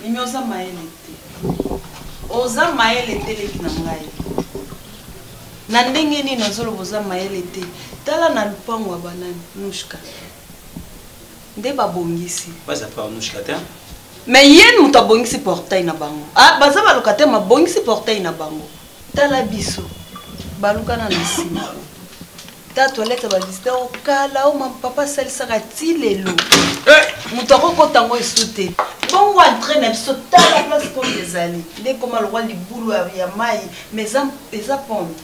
mimi oza mayele te oza mayele te leki na ngai na ndenge nini nazoloba oza mayele te tala na lupango ya banani nushka nde babongisi mais ye moto abongisi portail na bango ah, baza balokate mabongisi portail na bango tala biso balukana na nsima ta toilette balisita o kala o papa asalisaka ti lelo eh! moto akokota yango esu te bongo entre na biso tala place pole ezali nde ekoma lokwa libulu ya mai ma eza pone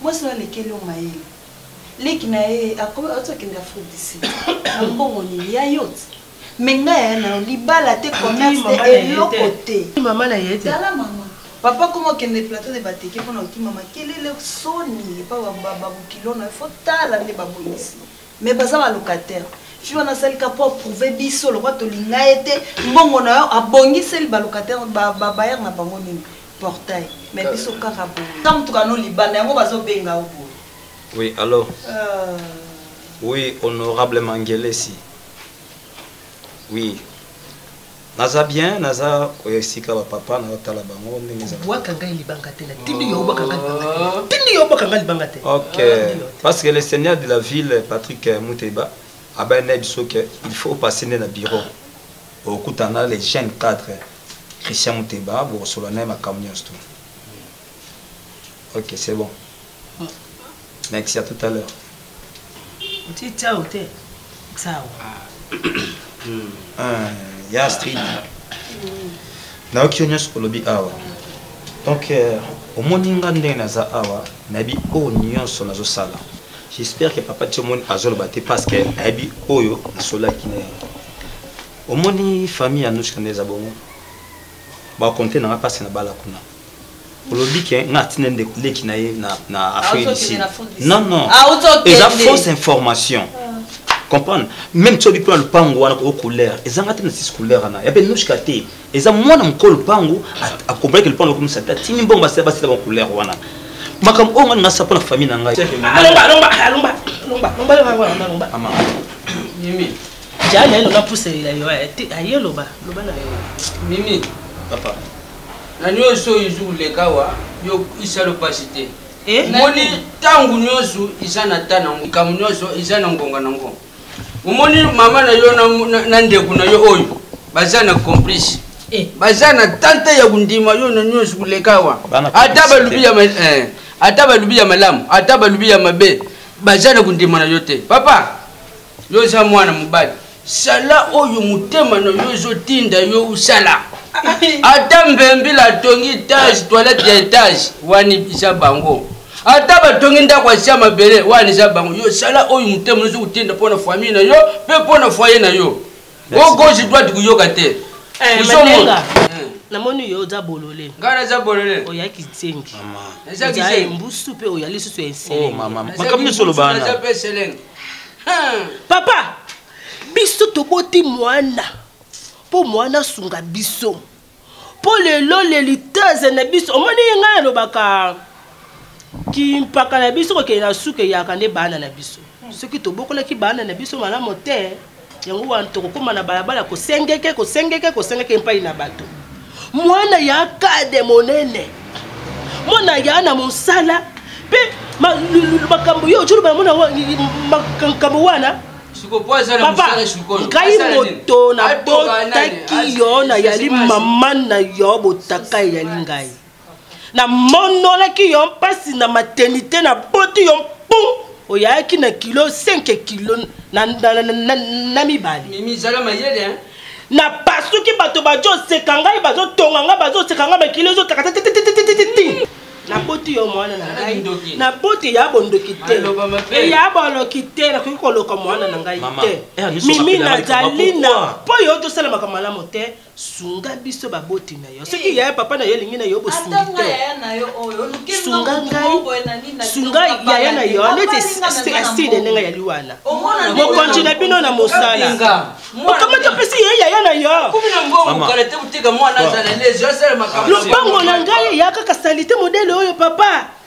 mwasi na alekeli yo mayele leki na ye akomi azokende afrodisi na mbongo nini ya yote mais nga yaya na yo libala te commerce te eloko te mama na ye te tala mama papa koma okende plateau nde bateke mpo na okima makelele soni epa babokilo na yo fo tala nde babongisi mais baza balocataire fi wana asalika mpo aprouve biso lokwa tolinga ye te mbongo na yo abongiseli balocataire babayer na bango nini portail mais biso kaka boye ka motuka no libanda yango bazobenga yo boye oui alors euh... oui honorable mangelesi oui naza bien naza esika bapapa nazotala bango ndenge ezabwaka ngai libanga te natindi yo obwaka ngai libanga te oh. tindi yo obwaka ngai libanga te ok ah, parce que le seigneur de la ville patrick euh, muteba abaya na biso ke il faut opase nde na bureau okutana le jeune cadre christian muteba bokosolola naye makambo nyonso tu ok c'est bon Merci à tout à l'heure. Oti ciao te. Ciao. Ah, ya street. nayoki yo nyonso olobi awa donc euh, omoni nga ndenge naza awa nayebi oyo nyonso nazosala j'espère que papa ti omoni azoloba te parce que ayebi oyo nasolaki na ye omoni famille ya nuska nde eza bongo bakonte nanga mpasi na bala kuna olobi ke nga atina ndeko leki na ye na afrique du sud non non eza fausse information comprendre même soki mpo na lopango wana o couleur ezanga te na six couleur wana ya mpe nushka te eza mwana mokolo lopango akompreke lopango lokomisa te atini mbongo basila basila bacouleur wana makambo oyo ngani nasa mpo na famille na ngai jaa naye loba puselela yo aye loba loba na yo mimi papa na nyonso oyo ezwi koleka awa yo isalo mpasi te eh? omoni ntango nyonso eza na ta nango likambo nyonso eza na ngonga na ngo omoni mama na yo na ndeko na yo oyo baza na complice eh. baza na tante ya kondima yo na nyonso koleka awa ata balubi ya eh, ata balubi ya malamu ata balubi ya mabe baza na kondima na yo te papa yo oza mwana mobali sala oyo motema na yo ezotinda yo osala ata mbembila atongi etage toilette ya etage wana eza bango ata batongi ndako asia mabele wana eza bango yo sala oyo motema ozo kotinda mpo na famille na yo mpe mpo na foye na yo o gauche droite koyoka te eh, ozomona eh. namoni yo oza bolole ngai naza bolole oya kizengi eza mbusu mpe oya lisusu ya eselengmakambo oh, nyonso olobana Hmm. Papa, biso toboti mwana mpo mwana asunga biso mpo lelo leliteze na biso omoni ye ngai alobaka kimpaka na biso kokende na suka eyaka nde bana na biso soki tobokolaki bana na biso malamu te yango wana tokokóma na balabala kosengeke kosengeke kosengeke epai na bato mwana ya kade monene mwana ya na mosala mpe makambo yo ojoloba mona makambo wana papa ngai moto nabotaki yo nayali mama na yo botaka eyali ngai namonolaki yo mpasi na maternité naboti yo mpum oyaki na kilo 5 kilo na, na, na, na, na mibale mimi zala mayele hein? napasuki bato bazoseka ngai bazotonga ngai bazoseka ngai makilo ezotaka titititititi naboti yo mwana na ngai naboti ya bondoki te ya boloki te nakoki koloka mwana na ngai te mimi nazali na mpo yo tosalamaka malamu te sunga biso baboti na yo soki eh. yaya papa na yo elingi na yo bosunga ngaisunga yaya na yo neti estide ndenge yali wana mokonzi na bino na mosala okamata mpesi ye yaya na yo lopango na ngai eya kaka salite modele oyo papa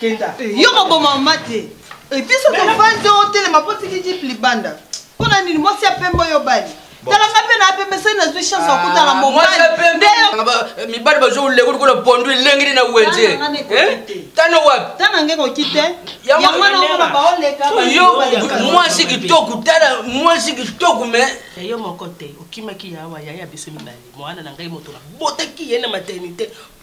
kenda yo koboma mama te episo tofandi otelema mpo tiki jipe libanda mpo na nini mwasi ya pembe oyo obali talanga mpe na pembe soki nazwi chance ya kotala mobalmibali bazo leko lokola pondu elengeli na wenze tana wapi tana nge koki te mwasi kitoko tala mwasi kitoko me yo moko te okimaki yawa yaya biso mibale mwana na ngai moto nabotaki ye na maternité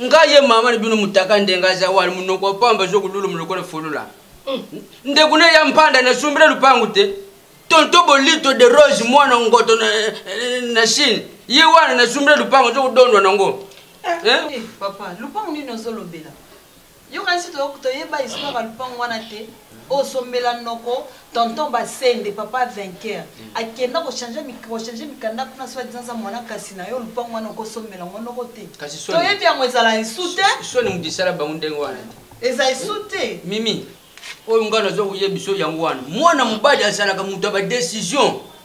nga ye mama na bino mutaka ndenge aza wana munoko pamba ezokoluluma lokola folula mm. ndeko na ya mpanda nasumbila lupangu te tonto bolito de rose mwana ngoto na, na chine ye wana nasumbila lupangu ezokodondwa nango eh? eh, papa lupangu nini ozolobela Yo kanisi to yeba histoire ya lupangu wana te o sombela noko tonton basende papa vainqueur mm. akenda ko changer ko changer mikanda kuna soit disant za mwana kasi na yo lupangu wana ko sombela ngo noko te to yebi yango ezala esu te so ni mudisala bangu ndenge wana eza esu te mimi oyo ngai naza koyebisa yango wana mwana mobali azalaka moto ya badecision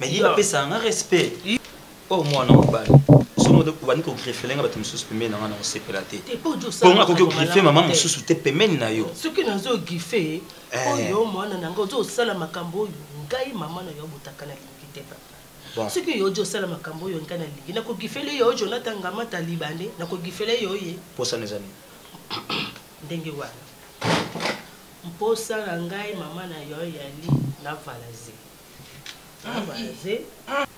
mais ye apesaka nga respect oyo oh, mwana mobali somo obandi kogrefele nga bato mosusu pembeni na nga na kosepela te mpongo akoki kogrife mama mosusu te pembeni na yo soki nazogrife eh. oyo mwana na nga ozosala makambo oyo ngai mama na yo abotaka na lingi te papa soki yo ojo osala makambo oyo ngai na lingi nakogifele yo jonathan ngamata libande nakogifele yo ye mposana eza nini ndenge wana mposa na ngai mama na yo yali na valazeli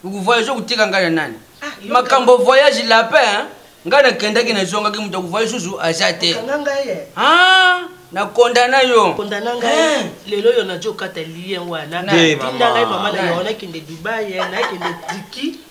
okovoyage okoteka ngai na nani ah, makambo voyage lapin ngai nakendaki nazongaki moto akovoyage susu aza te na kondana yo kondana ngai eh. lelo oyo najo okata lien wana tinda ngai mama na yo nakende dubai eh, nakende tiki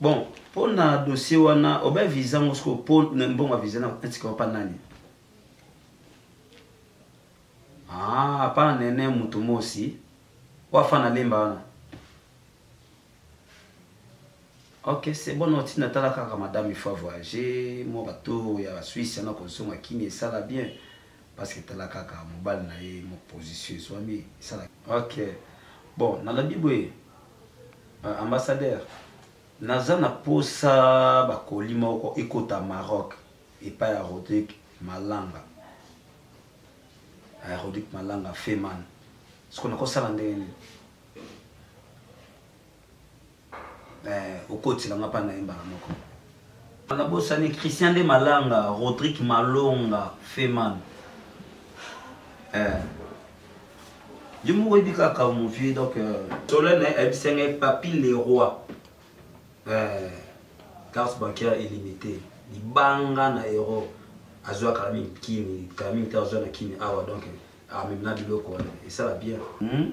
bon mpo na dossier wana obe visa ngo sikoyo mpo na mbongo ya visa natika opa nani ah, pa na nene moto mosi oyo afana lemba wana ok c'est bon oti natala kaka madame il faut voyager mwa bato ya suisse yana kozonga kini esala bien parce que tala kaka mobali na ye moposition ezwami esala ok bon nalobi boye Euh, ambassadeur naza na posa bakoli moko ekota maroc epai ya rodrik malanga ya rodrik malanga feman soko nakosala ndenge nini eh, okotila nga mpa na ye mbala moko nabosani christian de malanga rodrik malonga feman eh. Yo moko oyebi kaka mon vieux donc euh, Solène eh, ayebisa ngai Papi Leroy eh, carte bancaire illimité libanga na euro azwa kala mingi kini kala mingi te azwa na kini awa donc amemi na biloko wana esala bien hmm?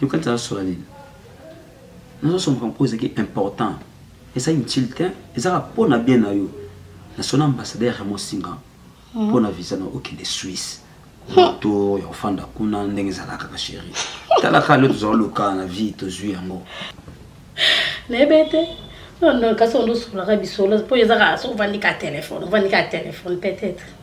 yoka tala sola nini nazosomaka mpo ezalaki important eza inutile te ezaka mpo na bien na yo nasona ambassadeur ya mosinga hmm. mpo na visa na okende suisse to ya kofanda kuna ndenge ezalaka kaka sheri talaka lio tozala lokala na vie tozwi yango nayebe te kasi ondo osolaka bisolo mpo ezaka soki ovandi ka telefone ovandi ka telefone peut-être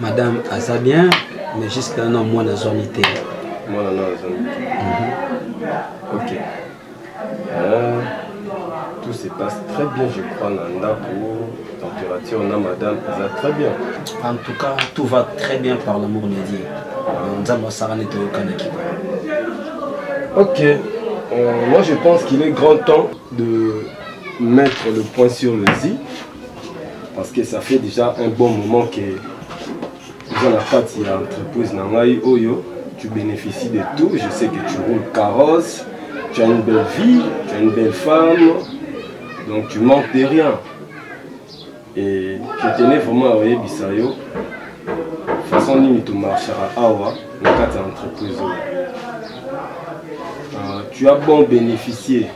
madame aza bien mais jusque là non mwana azwami te mwana na azwami mhm. ok euh, tout se passe très bien je crois na ndako température na madame eza très bien en tout cas tout va très bien par l'amour de dieu nzambe asaka nde toyokanaki ok euh, moi je pense qu'il est grand temps de mettre le point sur le zi parce que ça fait déjà un bon moment que oza na kati ya entreprise na ngai oyo tu bénéficies de tout je sais que tu roules carrosse tu as une belle vie tu as une belle femme donc tu manques de rien et je tenais vraiment à oyebisa yo façon nini tomarchaka awa na kati ya entreprise oyo euh, tu as bon bénéficier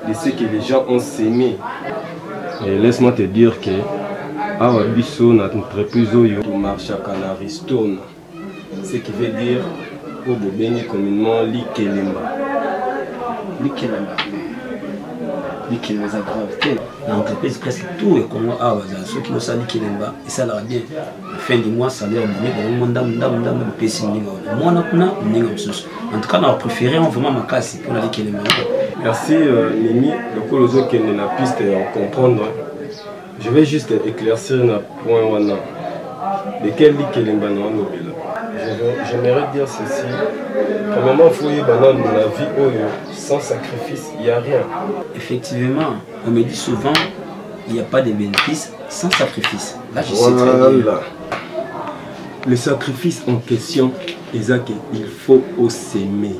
de ce que les gens ont semé. Et laisse-moi te dire que awa biso na entreprise oyo tomarchaka na ristone ce qui veut dire oyo bobengi communement likelemba likelemba likelemba eza grave te na entreprise presque tout ya congo awa bazala soki bosala likelemba esalaka bien na fin du mois salaire boni bango ndambo ndambo ndambo bopesi moninga wana mwana kuna moninga mosusu en tout cas na bapréféré vraiment makasi mpona likele mei merci euh, nimi lokola ozokende na piste ya comprendre je vais juste éclaircir na point wana lequel likelemba na olobela j'aimerais dire ceci premièrement faut oyeba nanu na vie oyo sans sacrifice il y a rien effectivement on me dit souvent il n'y a pas de bénéfice sans sacrifice. Là, je voilà. sais très bien. Le sacrifice en question, c'est qu'il faut s'aimer.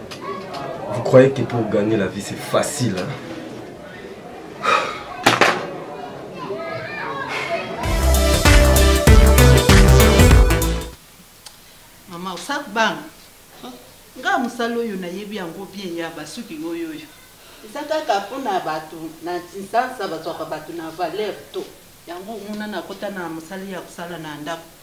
Vous croyez que pour gagner la vie c'est facile hein? Maman, osak bang. Nga musala oyo nayebi yango bien ya basuki oyo oyo. Eza kaka mpona bato na nsansa bazwaka bato na valeur to. Yango omona nakota na mosala ya kosala na ndako.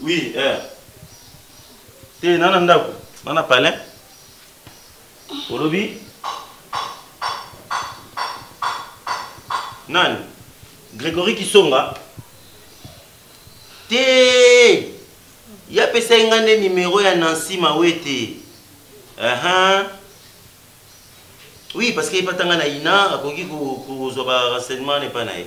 Oui, eh. Te nana ndako, nana palin. Olobi Nani Grégory Kisonga Te Ya pesa nga nde numéro ya Nancy Mawete. Uh -huh. Oui, parce que epatanga na ina akoki kozwa ba renseignement epa na ye.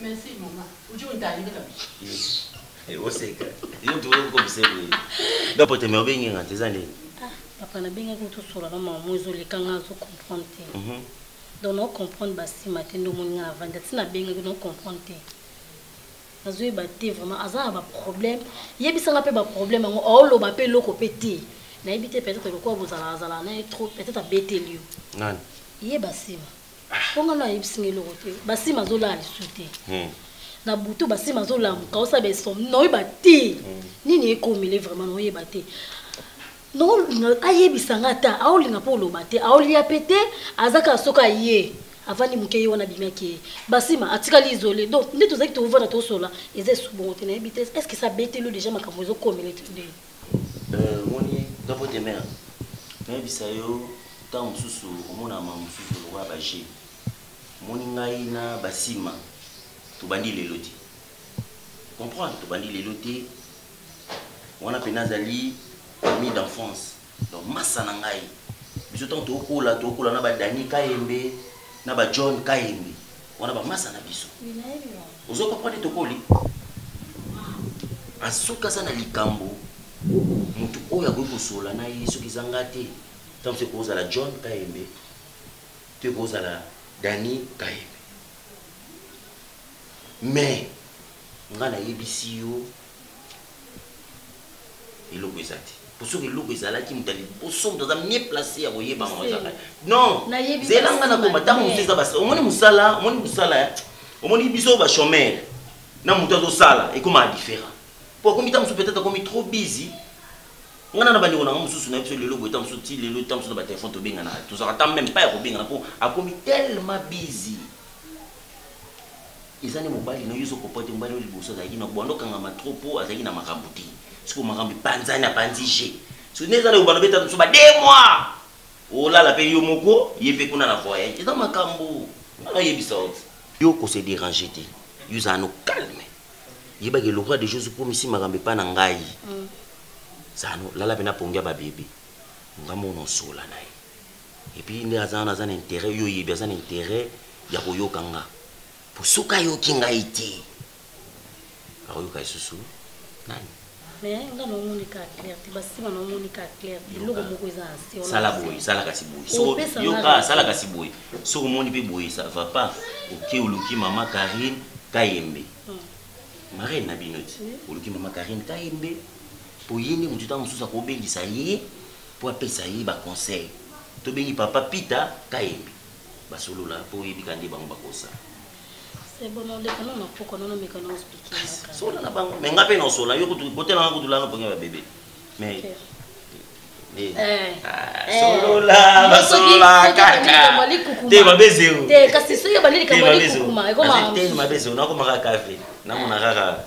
Merci maman. Uje untalile kabisa. Eh, oseka. Yo tu ko msebo. Dapo te me obengi ngati eza nini? Ah, papa na bengi ko to sola na maman ezo le kanga zo comprendre te. Mhm. Donc na comprendre ba sima te ndo moni na vanda tina bengi ko comprendre te. Azo yeba te vraiment aza na ba problème. Yebisa nga pe ba problème ngo o lo ba pe loko pe te. Na yebite peut-être ko bozala azala na trop peut-être abeteli yo. Nani? Yeba sima. mpo nga nayebisi nga eloko te basima azolala lisusu te hmm. na butu basima azolamuka osala baesomni naoyeba te hmm. nini ekomele vraiment naoyeba te ayebisa nga ata aolinga mpo oloba te aolia mpe te aza kaka soki aye avandi moke ye wana abimaki ye basima atikali isole donc nde tozalaki tovanda tosola eza esubongo te nayebi te est ce que esa betelo deja makambo ezokomele te nde omoni dopo de mer nayebisa yo ntango mosusu omonaka makambo mosusu lokola baje omoni ngai na basima tobandi lelo te comprendre tobandi lelo te wana mpe nazali ami d'enfance donc masa na ngai biso ntango tokola tokola na badani kayembe na bajohn kayembe wana bamasa na biso ozo comprendre tokoli asuka aza na likambo motu oyo akoki kosola na ye soki eza nga te ntango soki kozala john kayembe to ekozala dani kayembe mais nga nayebisi yo eloko eza te po soki eloko ezalaki moto ya liboso moto aza mie place ya koyeba ngo ezaka non zela nga na koma ntango mosusu eza basi omoni mosala omoni mosala eh? omoni biso bachomere na moto azosala ekomaka différent po akomi ntango mosusu peut-être akomi trop busy ngana na bandeko nanga mosusu na biso lelo boye ta mosusu ti lelo ta mosusu na batelefone tobenganaka tozalaka ta meme pa ya kobengana mpo akomi tellement busy eza nde mobali na yo ozo comprendre te mobali oyo liboso azalaki na bwando okangama trop po azalaki na makambo te sikoyo makambo epanzani apanzi je soki nde eza na yobana obeta mosusu ba de mois olala mpe yo moko ye mpe kuna na voyage eza makambo nana oyebisa oti yo kose déranger te yo ozala no calme yebaki elokwa deja ozokomisi makambo epai na ngai mm. zano lala mpe na pongi ya babebe nga mona osola na ye et puis nde aza wana aza na intérêt yo oyebi aza na intérêt ya koyoka nga po soki ayoki ngai te akoyoka lisusu nani mais nga naomoni kaka clair te basima naomoni kaka clair te eloko moko eza na se sala boye sala kasi boye yoka sala kasi boye soki omoni mpe boye ça va pas oke oluki mama karine kayembe hmm. marraine na bino ti oluki mama karine kayembe mpo ye nde motuta mosusu akobengisa ye po apesa ye ba conseil to bengi papa pita kayembe ba solola po oyebi ka nde bango ba kosa sola na bango me nga pe na osola yo kutu botela nga kutu lana pongi ba bebe mais okay. Eh. Eh. Ah, eh. solola basolola kaka te mabe zero te kasi soki ebandi likambo ya likukuma ekoma te mabe zero nakomaka kafe namona kaka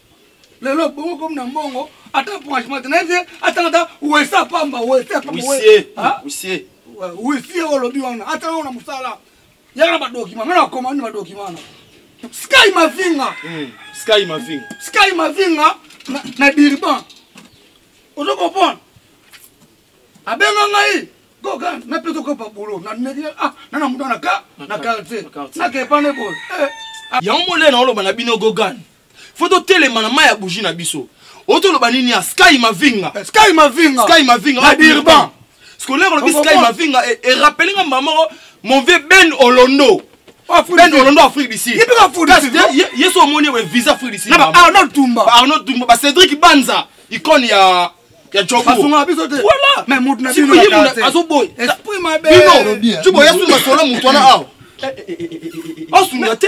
lelo bongo komi na mbongo ata branchement na ye atanga ata wesa pamba wesa pambawisie ah? olobi wana atanga ngo na mosala yaka na badokima nga nakoma ni badokima wana sky mavinga hmm, sky mavinga sky mavinga na dirban ozo comprendre abenga ngai koka napesa okopa bulo nameki ah na na mutu na ka na quartier nakepane boye eh. yango molena oloba na bino gogane fo totelema na mai ya bougie na biso otoloba nini ya sky mavinga eh, sky mavinga sky mavinga na dirban scolaire olobi sky mavinga erapele nga mbaa moko mon vieux ben olondo ah, ben olondo afrique du sud yesu omoni ye visa afrique du sud arnaud tumba arnaud tumba ba cédric banza icone ya ya joboasunga biso te voilà mais mutu na bino azoboy esprit mabe bino jubo yasuni masolo mutu wana awa asunga te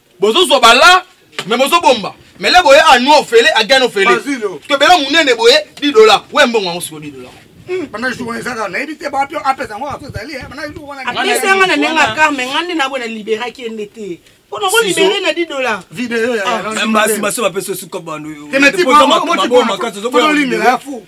bozozwa bala me bozobomba mele boye anua ofele agani ofele tobela monene boye didola we mbongo yango siko didola banda jour wana ezaka nayebi te bapi apesa yango aso ezali banda jour wana apesa yanga na ndenge akar me ngai nde nabo na liberaki ye nde te mpona kolibere na 10 dollars video ya basi basi bapesa osuka bandoyo makasi ozokolimela ya fou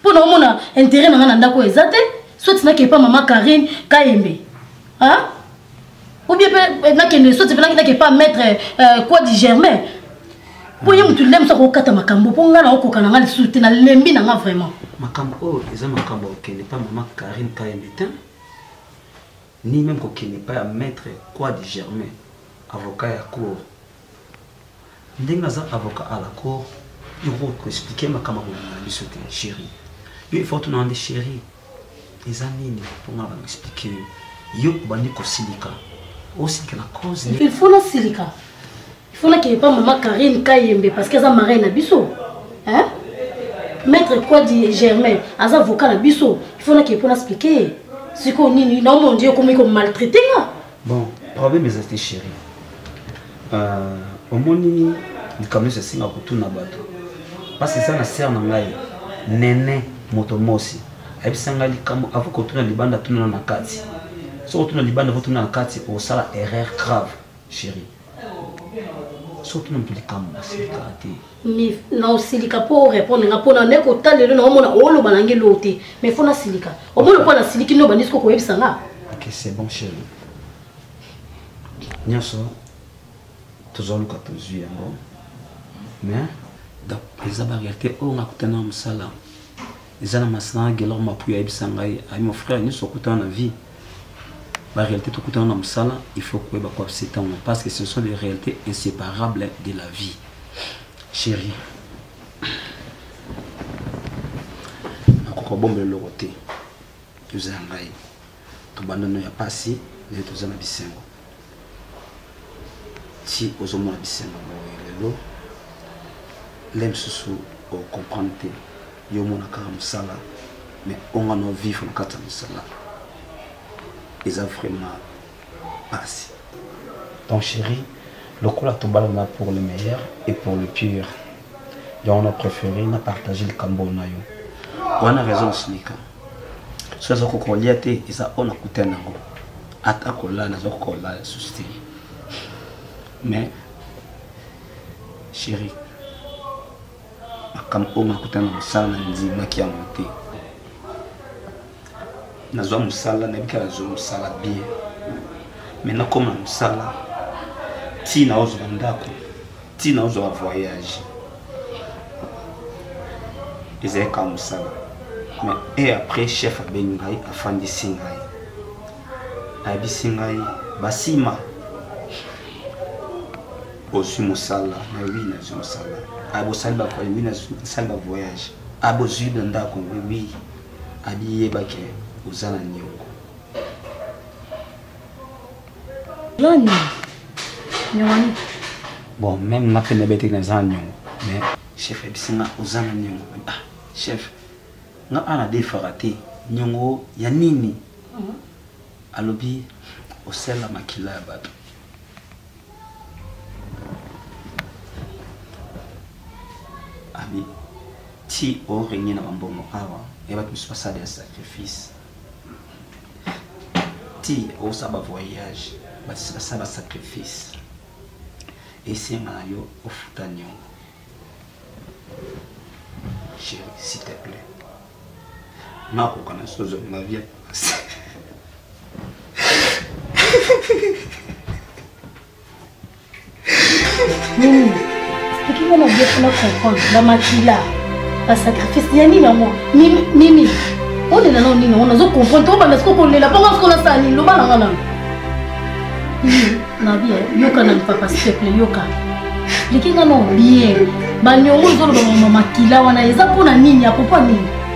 mpo na omona intérêt na ngai na ndako oyo eza te soti nakende mpa mama karine kayembe ou bien mpe eh, nakende soti mpe nakende mpa maître euh, quoi du germain mpo ye motu nde mosu akokata makambo mpo ngai naokoka na ngai lisusu te nalembi na ngai vraiment makambo oyo eza makambo okende mpa mama karine kayembe te ni meme kokende epai ya maitre Kwadi Germain, avocat ya cour. Ndenge aza avocat à la cour, yo okoki ko expliquer makambo ya mobimba na biso te cherie. Yo il faut otunaka nde cherie, eza nini mpo ngai na expliquer yo. Yo obandi kosilika, osilika na cause nini? Il faut nasilika? il faut nakende mpa mama karine kayembe parce que aza marin na biso hein? maître kwadi germain aza avocat na biso il faut nakende mpo naexplike ye sikoyo nini naomondi okomi komaltraite nga bon problème eza te chéri euh, omoni likambo nyonso esenga kotuna bato mpasi eza na sere na ngai nene moto mosi ayebisa ngai likambo avo kotuna libanda tunana na kati soki otuna libanda vo tuna na kati osala erreur grave chérie soki moto likambo nasilika te naosilika mpo orépondre nga mpo nane kota lelo na omona oloba nange loo te mais fo nasilika omoni mpo nasiliki nde obandisi kokoyebisa nga ok c'est bon chéri nyonso tozoluka tozwi yango mais donc eza baréalité oyo nga kutana na mosala eza na masina gelor mapuya ayebisa ngai ayi mon frère nyonso okutana na vie baréalité tokutana na mosala il faut koyeba koapse ntango parce que ce sont des réalités inséparables de la vie chéri nakoka bombela eloko te oza ya ngai tobanda no ya pasi nde toza na bisengo ti ozomona bisengo boye lelo nde mosusu ocomprendre te yo omona kaka mosala mais onga na ovivre na kati ya mosala eza vraiment pasi donc chéri lokola tobalana pour le meilleur et pour le pire yango na préféré na partage likambo na yo wana raison osilika soki azokoka kolia te eza oyo nakuta nango ata kolala nazokoka kolala lisusu te mais chéri makambo oyo makuta na mosala na ndimaki yango te nazwa mosala nayebi kaka nazwa mosala bien mai nakoma na mosala ntina ozwa ndako ntina ozwa ba voyage ezali kaka mosala mais e après chef abengi ngai afandisi ngai ayebisi ngai basima ozwi mosala na wi nazwi mosala abosali bakoyi wi nasali bavoyage abozwi na ndako wi abiyebake oza na niongo Lani. Nyongani. Bon, même na pene bete na za nyongo. Mais chef ebisinga ozana nyongo. Ah, chef. Nga ana de farate. Nyongo ya nini? Mhm. Alobi osela makila ya bato. Abi ti orengi na bambongo awa ya bato mosusu basala ya sacrifice ti osa ba voyage basala ba sacrifice esenga na yo ofuta niongo chéri s'il te plaît nakoka na sozo na vie nini ekinga na bie kuna comprendre bamakila basacrifice ya nini yango mimi olela nao nini yango nazo comprendre tokobanda siko kolela mpo nga siko nasala nini loba na nga nano na bie yoka na lipapa sipeple yoka liki nga nao bie baniongo ezoloba mama makila wana eza mpo na nini apopo ya nini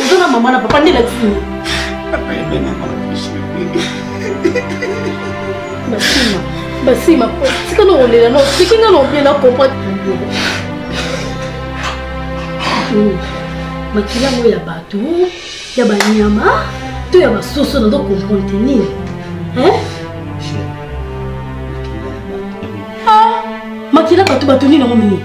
oza na mama na papa nde elakisi nini basima basima tika na olela no tiki nga na obie na comprendre makila yango ya bato ya banyama to ya basoso nazo comprendre te nini makila bato bato nini yango mingi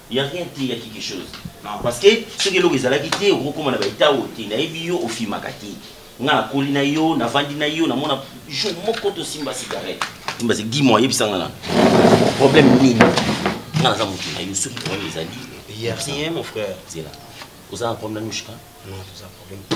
Ya rien te ya quelque chose. Non parce que soki eloko ezalaki te okokoma na ba etat oyo te nayebi yo ofimaka te nga nakoli na yo navandi na yo namona jour moko tosimba cigarette simba se dis moi yebisa nga na problème nini nga naza moto na yo soki problème ezali ya rien mon frère zela oza na problème na mishka non toza problème te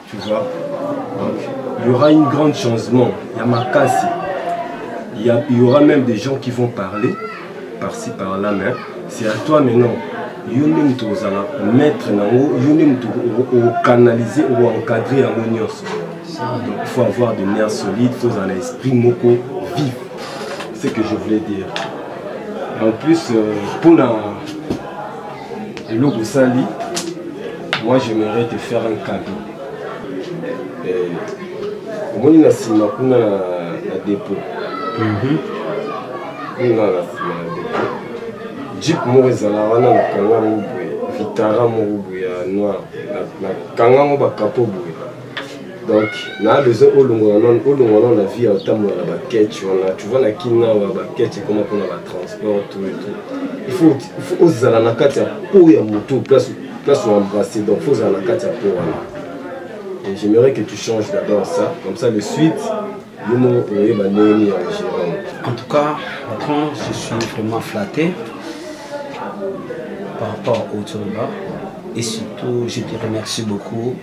Tu vois Donc, il y aura une grande changement. Il y a ma casse. Il y, a, il y aura même des gens qui vont parler par-ci par-là, mais c'est à toi maintenant. yo nde moto ozala maître na yango yo nde moto okanalize oencadre yango nyonso donc il faut avoir de nerf solide faut ozala na esprit moko vif ce que je voulais dire en plus euh, mpona eloko osali moi j'aimerais te faire un cadeau eh, omoni na nsima kuna na dépôt mhm. kuna na nsima na dépôt jeep moko ezala wana na kanga yango boye vitara moko boye ya noir na kanga yango bakapo boye donc na besoin olongola non olongola non na vie ya otambola na baketch wana tu vois na kina wa baketch ekoma mpona batransport tout et tout il faut il faut ozala na kati ya po ya motu place place oembrasse donc faut ozala na kati ya po wana et j'aimerais que tu changes d'abord ça comme ça le suite yo moko oyeba ndenge nini ya ogérant en tout cas patron je suis vraiment flatté par rapport au tournoi et surtout je te remercie beaucoup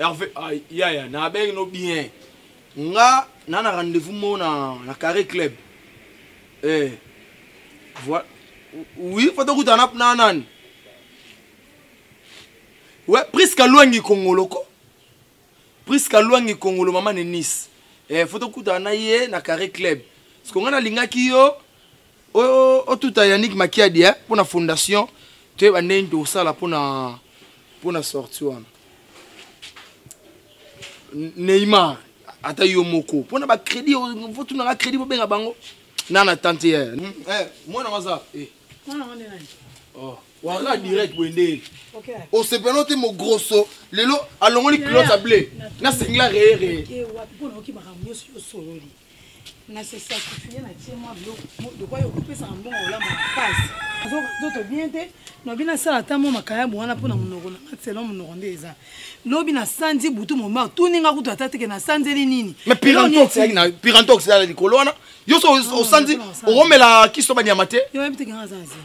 Hervé, ah, ya ya, na abengi no bien. Nga, na na rendez-vous mo na, na carré club. Eh, voilà. Oui, faut que tu na nani. we priska lwangi kongolo ko priska lwangi kongolo mama ne nice eh, fo tokutana na ye na carré club siko ngai nalingaki yo otuta yanik makiadi eh, mpo na fondation toyeba ndenge nini tokosala mpona mpona sorti wana neymar ata yo moko mpona bacrédit fotunaka crédit bobenga bango nana tante ye eh, eh, mwana waza eh. wara direct boye nde osepela no te mogrosso lelo alongoli culotte ya ble na singla reye reye na se sacrifie na tie mwa biloko yo kopesaka mbongo olamba makasi nzoto bien te lobi nasala ata mwa makayabu wana mpo na monoko na nga selon monoko nde eza lobi nasanzi butu momba tuni nga kutu ata teke nasanzeli nini pirantox ezala likolo wana yo so osanzi okomela kiso banyama te yo yebi teke nga aza azela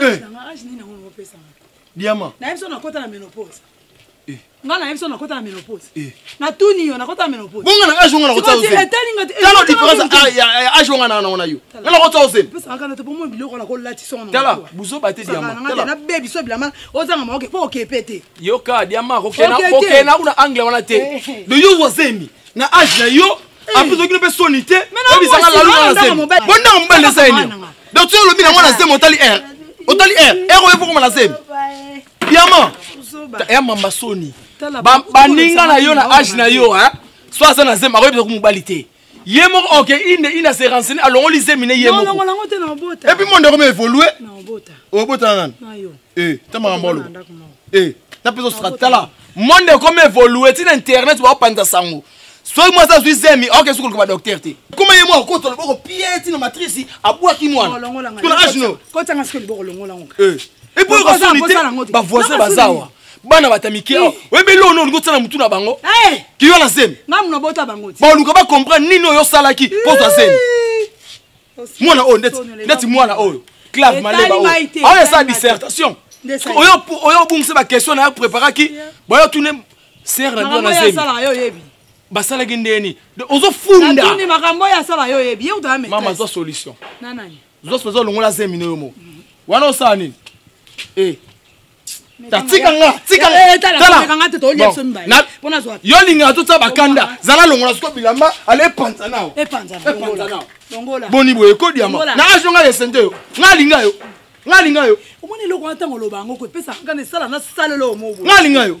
Eh. diama nayebi so nakota na menopause eh. nga nayebi so nakota na menopause eh. natuni yo nakota na menopause bonga na age onga nakotaotala différence ya age onga na naona yo nga nakota ozelpesakanatepomo biloko nakolatitala buzoba te diamanabebi so bilama ozanga maoke po okepe te yoka diama kokena kuna angle wana te de yo ozemi na age na yo apres ozokino mpe soni te oyebisaka laluna na zemi bondanga mobali eza eni donc soki olobi nango na zemi otali r otali r r oye fokoma na zemi yama ya mamba soni baninga na yo na age na yo so aza na zemi akoyebisa ko mobali te ye moko oke inde inde ase renseigne alongoli zemi ne ye mokoepuis monde yango maevolue obota na nani ta makambo oloba na mpe ozosaka tala monde ekomi evolue ti na internet baopanza sango soki mwasi azwi zemi aoke sukuluka badoktere te koma ye mwa okota loboko pie ti na matrisi abwaki mwanatuna agno epo okasoni te bavoisin bazawa bana bata mike eh. oyebi eloko nini olingi otia na motu na bango eh. kiyo na zemi baoluka bacomprendre nini oyo osalaki mpo ozwa zemi mwana oyo ndeti ndeti mwana oyo clave maleba oyo aoyo esa dissertation oyo obungisa baquestion na yo préparaki bayo tune ser na bino na zemi basalaki ndeni ozofunda mama zwa solution zwa solution olongola zemi na yo mo wana osala nini eh. yolingaka totya bakanda zala longola siko bilamba ala epanza nao boni boye ekodiama na azo ngai esente yo ngai alinga yo ngai alinga yo omoni eloko wana ntango oloba yango koepesa ngai esala na salelo omo ngai alinga yo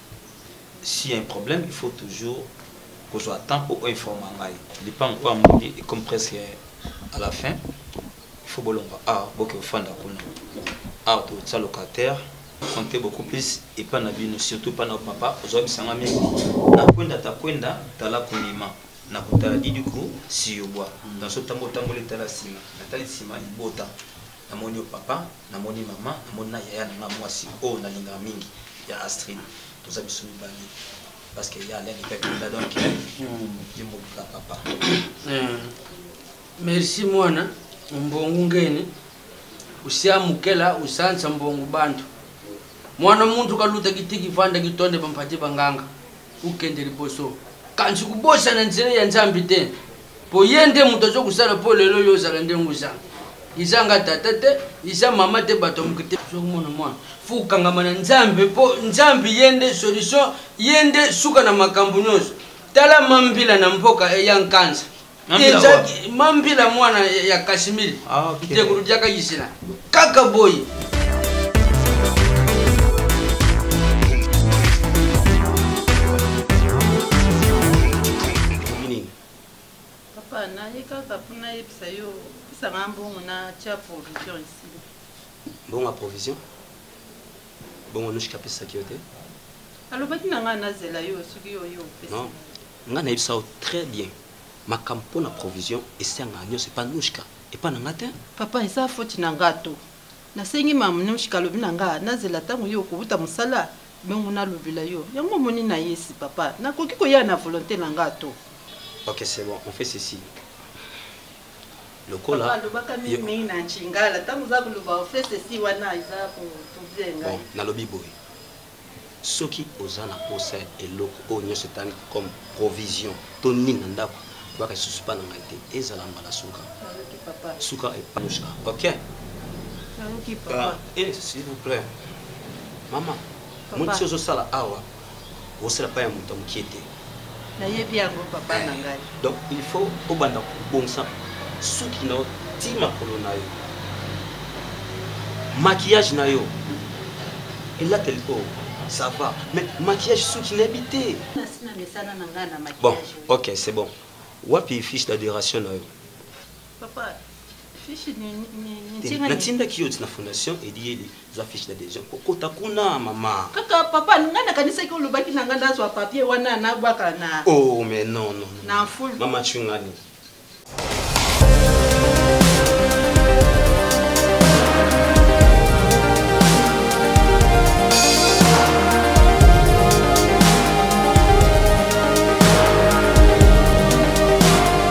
si un problème il faut toujours kozwa temps mpo oinforma ngai lipango oyo amoni ecomme presque à la fin il faut bolongwa awa boke ofanda kuna awa tokotisa locataire compte beaucoup plus epa na bino surtout epa na papa ozwa bisanga mingi nakwenda takwenda tala konima na kotala didiku siyobwa naso ntango otamboli tala nsima natali nsima libota Namoni yo papa, namoni maman, namoni na yaya na nga mwasi oyo nalingaka mingi ya Astrid. Toza biso mibale parce que ya Alain Epek Munda donc ye mobika papa. Eh, Merci mwana mbongo ngeni usiamukela usansa mbongo bantu mwana muntu kaluta kitiki fanda kitonde bampati banganga okende liboso kasi kobosana nzela ya nzambe te mpo ye nde moto azo kosala mpo lelo yo ozala ndenge oza iza nga tata te iza mama te bato ya moke te ozokomona mwana fo kokangama na nzambe mpo nzambe ye nde solution ye nde suka na makambo nyonso tala mambila na mboka eya nkanza mambila mwana ya kashmir ntekulu ah, diaka yisina kaka boye papa naye kaka mpo nayebisa yo pesanga mbongo na tia provision esi mbongo ya provision bongo noshika apesaki yo te alobaki na ngai nazela yo soki oyo opesa nga na yebisa yo très bien makambo pona provision esengaka nyonso epa nushka epa na nga te Papa eza faute na nga to na sengi mamnushka alobi na nga na zela tango yo okowuta musala bongo na lobela yo yango omoni na yesi papa na koki koya na volonte na nga to. Ok c'est bon on fait ceci lokola papa alobaka mingi mingi na nshingala tango oza koloba on fait ceci wana eza ko trouble nga bon na lobi boye Soki oza na posa ya eloko oyo nionso etali comme provision to nini na ndaku, boyaka lisusu epa na ngai te. Ezala mbala suka suka epa Anouchka ok? Naluki papa. Ah, eh, s'il vous plait. Mama, Papa. moni ti ozo sala awa, osala pa ya moto ya mukie te. nayebi yango papa na ngai donc il faut obanda kobongisa suki na yo ti makolo na yo maquillage na yo elateli oyo ça va mais maquillage suki nayebi te bon ok c'est bon wapi fiche d'adoration na yo Papa, fiche nini natindaki yo na fondation eliyeli zwa fiche d'adhesion kokota kuna mama kaka papa ngai nakanisaki olobaki na ngai nazwa papier wana nabwaka na oh mais non non na full mama chungani